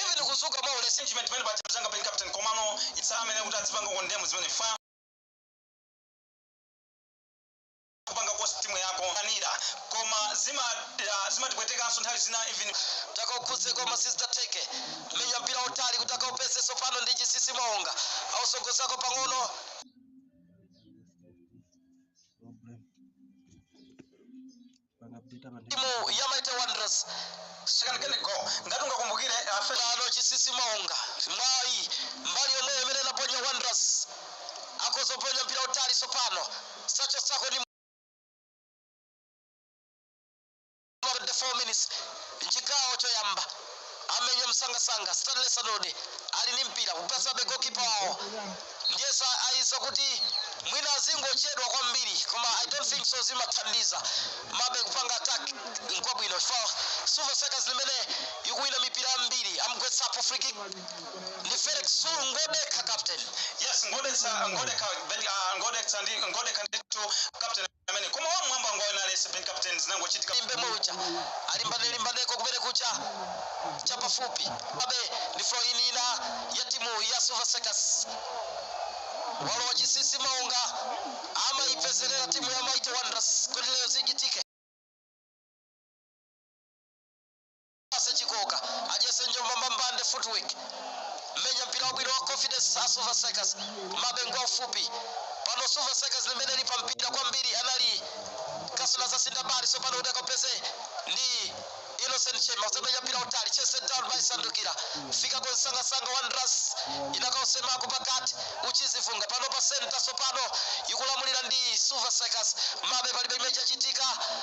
even kuzuka mwa ulesi nchimene pamene pacha mzanga pali captain komano isa amene kuti adzipanga condemn zimene fa kupanga cost timu yako anira koma zima- ah, zimatipwetekanso nthawi zina even takaukhudze koma sizidatheke menya mpira utali kuti akaupeze sopano ndi chinsinsi maonga autsogozako pang'ono timu ya Mighty Wanderers sikanakene go ngati ungakumbukire afelano Chinsinsi Maonga mwayi mbali yomwe imene inaponya Wanderers akudzaponya mpira utali sopano sachotsako ni 24 minutes chigawo choyamba amenya msangasanga stanley sanudi ali ndi mpira kupatsabe goalkeeper wawo ndiyesa ayesa kuti mwina azingochedwa kwambiri koma i don't think so zimathandiza mabe kupanga attack nkwabwino for silver strikers imene ikuwina mipira yambiri amgwetsapo free kick ndi felix zulu ngodekha captain yes ngodetsa ngodekha ben- ah, ngodetsa ndi ngodekha ndithu captain amene koma wamwamba ngwayo na lesi ben captain zinangochitika limbe moja alimbane limbaneko kumene kucha cha pafupi abe ndi throw in ina ya timu ya silver strikers walowa chinsinsi maonga amaipezerera timu ya mighty wanderers kuti lero zichitike Ase Chikooka adyetse njomba mbambande footwork menya mpira wabwino wa confidence a Silver Strikers komabe ngwa ufupi pano Silver Strikers imene ili pa mpira kwambiri anali kasula za sindabali sopano kuti akapeze ndi Innocent Shema kudzamenya mpira utali chested down by Sandukira afika kwa msangasanga Wanderers inakausemako pakati Uchizi Vunga pano pa center sopano ikulamulira ndi Silver Strikers mabe palibe chimene chachitika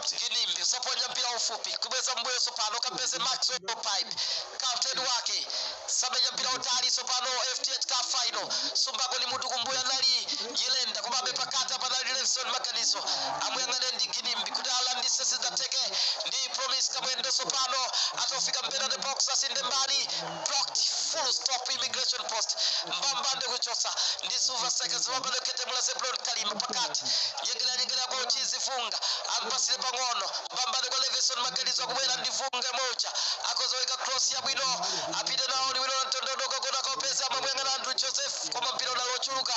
Kinimbi usaponya mpira ufupi kubweza mbuyo sopano kapeze Maxwell Paipi captain wake samenya mpira utali sopano FDH Cup final sumbako ni mutu kumbuyo anali Nyirenda komabe pakati apa anali Levison Maganizo amuyang'ane ndi Kinimbi kuti alande sizidatheke ndi Promise Kamwendo sopano atofika mpira the box asinde mbali blocked full stop immigration post mbambande kuchotsa ndi silver strikers mbambande kuketemula zebron kalima pakati nyengeranyengerera kwa uchizi vunga ampatsire pang'ono mbambande kwa levison maganizo akubwera ndi vunga moja akozoweka cross yabwino apite nawo liwiro la mtondo wadooka kona kaupeza amamuyang'ana andrew joseph koma mpira unali wochuluka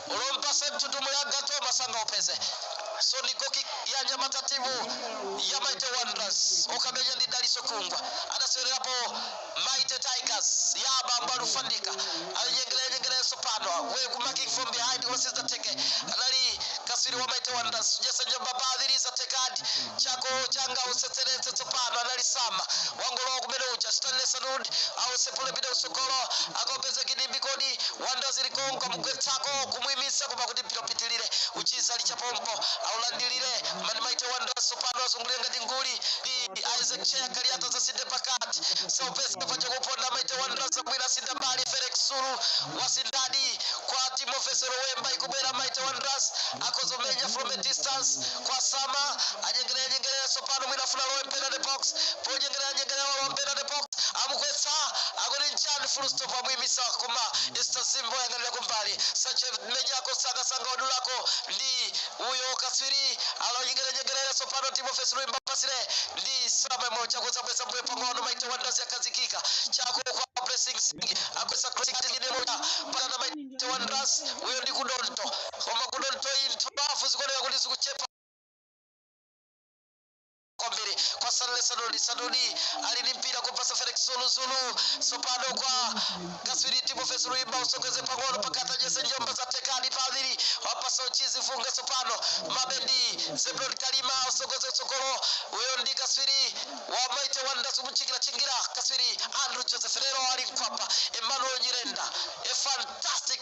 ulompase mtutumuli agato masanga upeze so ni goal kick ya anyamata timu ya mighty wanderers okamenya ndi dalitso khungwa anasewererapo Mighty Tigers ya abambo Alufandika anyengerera nyengerera tsopano we coming from behind koma sizatheke anali katswiri wa Mighty Wanderers jersey number padiri zathekadi chako changa usetseretse tsopano anali Sama wangolowa kumene uja Stanley Sanudi ausepule pita kutsogolo akapeze kidimbi kodi Wanderers likonka mugwetsako kumwimitsa koma kuti mpira upitilire uchita lichapompo aulandilire mani Mighty Wanderers tsopano azungulira ngati nguli Ndi- Isaac Tcheya Kaliati zatsinde pakati Sylvester pachakuponda Mighty Wanderers zabwira tsinda mbali Felix Zulu watsindadi kwa Timothy Silwimba ikubwera Mighty Wanderers akhoza kumenya from a distance kwa Sama anyengerera nyengerera tsopano mwina afuna alowe penalty box ponyengerera nyengerera alowe penalty box amugwetsa akuti nchani full stop amuyimitsa koma Esther Zimbo ayang'anira kumbali Sanchez menyako nsanga nsanga wadulako ndi Uyo katswiri alonyengerera nyengerera tsopano, Timothy Silwimba apasire ndi Sama mocha kudzabweza mbuyo pang'ono Mighty Wanderers yakhazikika chako kwa Blessings Singini agwetsa crossing ati ine Mocha patana Mighty Wanderers uyo ndi Kudonto koma Kudonto iyi ntchafu zikuoneka kuti zikuchepa kwambiri kwa Stanley Sanudi. Sanudi ali ndi mpira kupatsa Felix Zulu Zulu, tsopano kwa katswiri Timothy Silwimba, autsogoze pang'ono pakati jersey number zathekadi paviri wapatsa Uchizi Vunga tsopano mabendi Zebron Kalima autsogoze kutsogolo uyo ndi katswiri wa Mighty Wanderers akumutchingira tchingira katswiri Andrew Joseph lero ali mkwapa Emmanuel Nyirenda a fantastic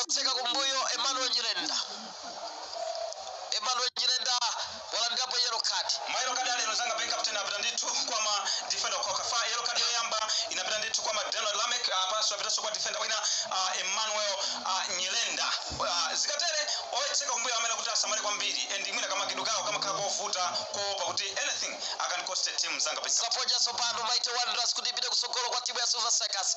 Otseka kumbuyo Emmanuel Nyirenda Emmanuel Nyirenda walandirapo yellow card. Ma yellow card alero mzanga Ben Captain apita ndithu kwa ma defender chifukwa yellow card yoyamba inapita ndithu kwa McDonald Lameck apanso apitanso kwa defender wina ah, Emmanuel ah, Nyirenda Ah, zikatere otseka kumbuyo amene kuti asamale kwambiri and mwina kamakidwe kawo kamakhala kovuta koopa kuti anything akan cost a team mzanga Ben zaponya tsopano Mighty Wanderers kuti ipite kutsogolo kwa timu ya Silver Strikers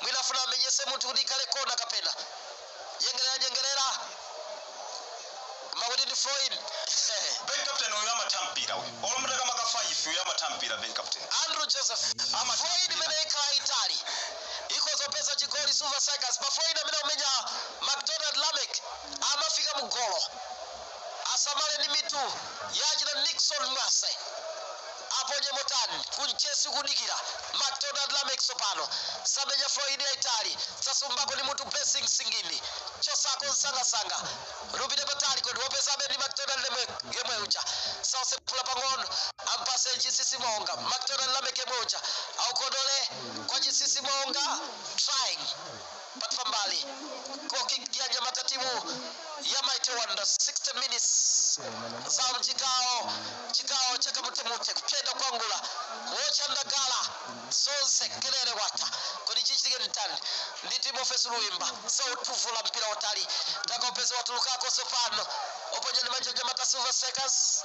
Mwina afuna amenyetse munthu kuti ikhale kona kapena nyengerera nyengerera koma kuti ndi throw in Ben Captain uyu amatha mpira uyu. Olo mutakama ka 5 uyu amatha mpira Ben Captain. Andrew Joseph Ama- throw in imene ikhala yaitali ikhoza kupeza chigoli Silver Strikers pa throw in amene akumenya McDonald Lameck amafika mu golo Asamale ndi mitu ya achina Nickson Mwase aponye motani kunchesi akudikira Macdonald Lameck tsopano zamenya throw in yaitali zasumbako ndi mutu Blessings Singini chotsako nsangansanga upite patali kodi wapezabe ndi Macdonald Lameck yemwe uja ausepula pang'ono ampatse Chinsinsi Maonga Macdonald Lameck yemwe uja aukodole kwa Chinsinsi Maonga trying But pambali goal kick ya anyamata a timu ya Mighty Wanderers 60 minutes za mchigawo chigawo cha kamutemute kupyenda kwangula wocha ndagala zonse kelele wata kodi chichitike nditani ndi Timothy Silwimba zautuvula mpira wautali takopeza watulukako tsopano oponya ndi manja anyamata a Silver Strikers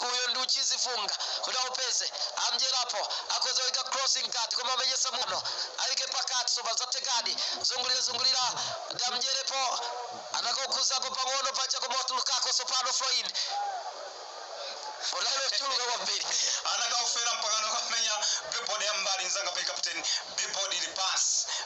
uyo ndi Uchizi Vunga kuti aupeze amdyerapo akhoza kuika cross mkati koma amenyesa muno aike pakati sopa zathekadi zungulira zungulira kuti amdyerepo anakaukhuzapo pang'ono pacha koma watulukako tsopano floyd unali ochuluka kwambiri anakaufera mpakana kumenya billboard ya mbali nzanga bench captain billboard ili pansi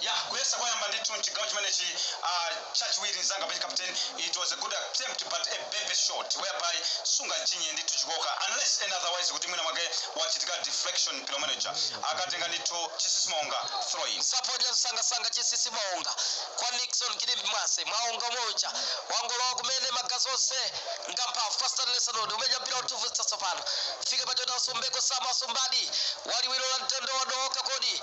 Ya, kuyesa kwayamba ndithu mchigawo chimenechi uh, chachiwiri mzanga bench captain it was a good attempt but a baby shot whereby sungachinye ndithu chikoka unless and otherwise kuti mwina mwake wachitika deflection mpira umene uja akatenga ndithu chisisi maonga throw in waponya msangasanga chisisi maonga kwa nixon kilipi mwase maonga umoja wangolowa kumene magazi onse ngamphamvu pa Stanley Sanudi aumenya mpira autuvutsa tsopano fika pachota ausumbeko Sama ausumbadi waliwiro la mtondo wadooka kodi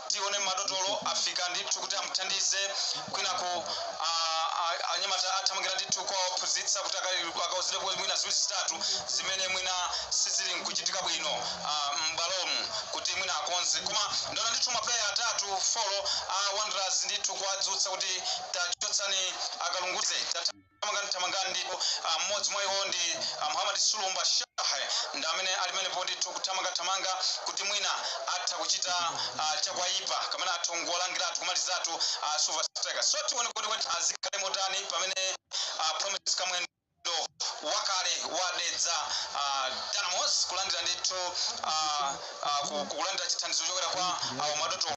tione madotolo afika ndithu kuti amuthandize kwinaku a- a- anyamata athamangira ndithu kwa ophunzitsa kuti aka- akauzidwe kuti mwina ziwiri zitatu zimene mwina sizili nkuchitika bwino ah, m'bwalomu kuti mwina akonze koma ndaona ndithu mapuleya atatu folo a wanderers ndithu kuwadzutsa kuti tachotsani akalunguze Tatha- thamangani thamangani ndipo ah, mmodzi mwa iwo ndi ah, muhammad sulumba shah ndi amene ali pamenepo ndithu kuthamangathamanga kuti mwina atha kuchita ah, chakwaipa kamene atha kungolangiratu kumalizatu ah, silver strikers so tione kuti kodi zikhale motani pamene ah, promise kamwendo wakale wa Dedza ah, dynamos kulandira ndithu ah, ah, ku- kulandira chithandizo kuchokera kwa ah, madoto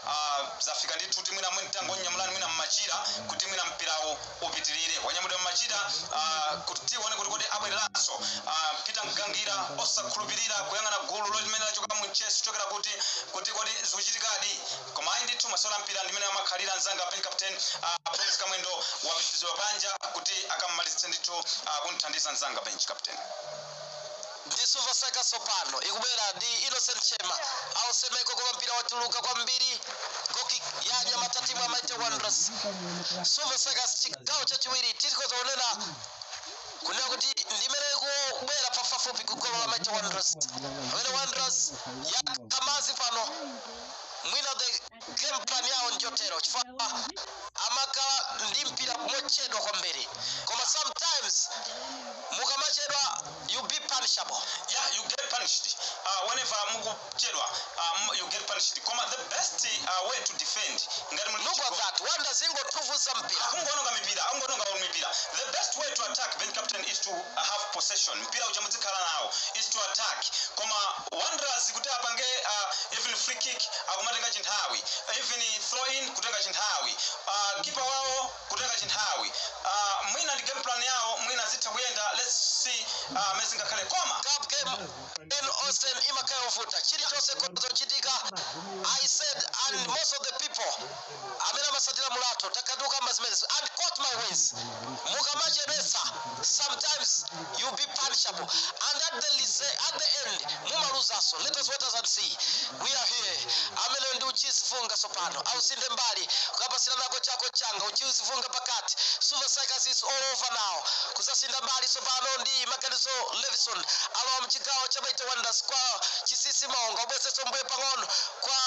Ah, zafika ndithu kuti mwina mwini tangonyamulani mwina mmachira kuti mwina mpirawu upitirire wanyamulidwa mmachira ah, kuti tione kuti kodi abwereranso Ah, peter mgangira osakhulupirira kuyang'ana gululo limene lachoka mu mchezo kuchokera kuti kuti kodi zikuchitikadi koma ayi ndithu masewera a mpira ndi mmene amakhalira mzanga bench captain ah, promise kamwendo wapititsidwa panja kuti akamalizitse ndithu ah, kumthandiza mzanga bench captain ndi Silver Strikers tsopano ikubwera ndi Innocent Shema ausemeko koma mpira watuluka kwambiri goal kick ya anyamata a timu ya mighty wanderers Silver Strikers chigawo chachiwiri tikhoza kunena kunena kuti ndi imene ikubwera pafupifupi kugolo la mighty wanderers pamene wanderers yakamazi pano mwina the game plan yawo njotero chifukwa amakhala ndi mpira mochedwa kwambiri koma sometimes mukamachedwa you be punishable yeah you get punished uh, whenever mukuchedwa um, you get punished koma the best uh, way to defend ngati muli look at that Wanderers zikutivutitsa mpira akungononga mipira akungononga mipira the best way to attack bench captain is to have possession mpira uja mudzikhala nawo is to attack koma Wanderers kuti apange a even free kick akumatenga chinthawi even throw in kutenga chinthawi keeper wawo kutenga chinthawi a mwina ndi game plan yawo mwina zitha kuyenda let's see a amene zingakhale koma cup game en osem imakhala yovuta chilichonse chitha kuchitika i said and most of the people amene amatsatira mulatho takhala tikukamba zimenezi and quote my words mukamachedwetsa sometimes you be punishable and at the, lise- at the end mumaluzanso let us wait and see we are here amene ndi Uchizi Vunga tsopano awusinthe mbali kukapatsira nako chako changa Uchizi Vunga pakati Silver Strikers is all over now kudzasintha mbali tsopano ndi Maganizo Levison alowa mchigawo cha Mighty Wanderers kwa Chisisi Maonga kubwezeretsa mbuyo pang'ono kwa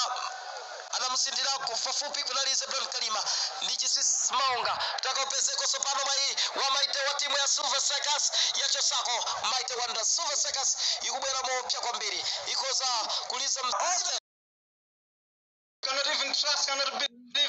anamusendera kufupi kunali Zebron Kalima ndi Chisisi Maonga takaupezakonso tsopano mwayi wa Mighty wa timu ya Silver Strikers yachotsako Mighty Wanderers Silver Strikers ikubwera moopsya kwambiri ikoza kuliza mzere cannot even trust, cannot believe.